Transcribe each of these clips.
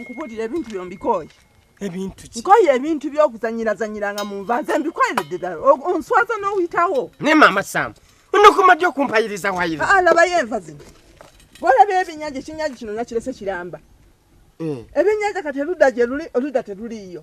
nkubuulira ebintu byo mbikooye ebintu ki nkoye ebintu byokuzanyirazanyiranga mu nva nze mbikoleredde ddala onswaza n'oyitawo ne maama sam onokoma ddi okumpayiriza wayira alabayo ah, enva zino bwolaba ebinyaji ekinyaji kino nakirese kiramba eh. ebinyaja kati erudda gye luli oludda teruliiyo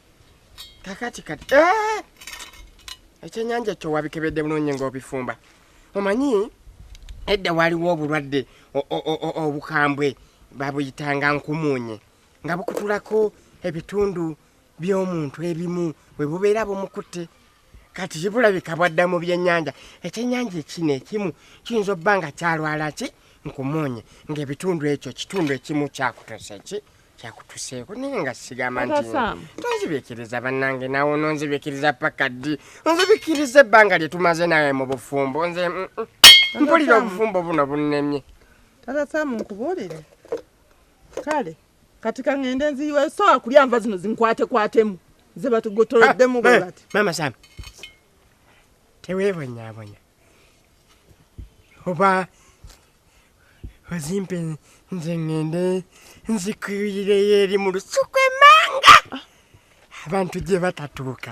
kakati kati eh! ekyenyanja kyo wabikebedde bulungi ngaobifumba omanyi edda waliwo obulwadde obukambwe babuyitanga nkumuunye nga bukutulako ebitundu by'omuntu ebimu bwe bubeera bumukutte kati kibulabika bwadda mu byenyanja ekyenyanja ekino ekimu kiyinza obba nga kyalwala ki nkumuunye ng'ebitundu ekyo kitundu ekimu kyakutose ki kyakutuseeko naye nga sigamba nti tonzibikiriza bannange nawe ononzibikiriza paka ddi onzibikiriza ebbanga lye tumaze nawe mu bufumbo nze mm, mm. mpulira obufumbo buno bunnemye tata samu nkubuulire kale kati kaŋŋende nziyiwa esobola kulya nva zino zinkwatekwatemu ze batugotoloddemu ah, bwe bati maama samu teweebonyabonya oba ozimpe nze ŋŋende nzikirireyo eri mu lusuku emanga abantu gye batatuuka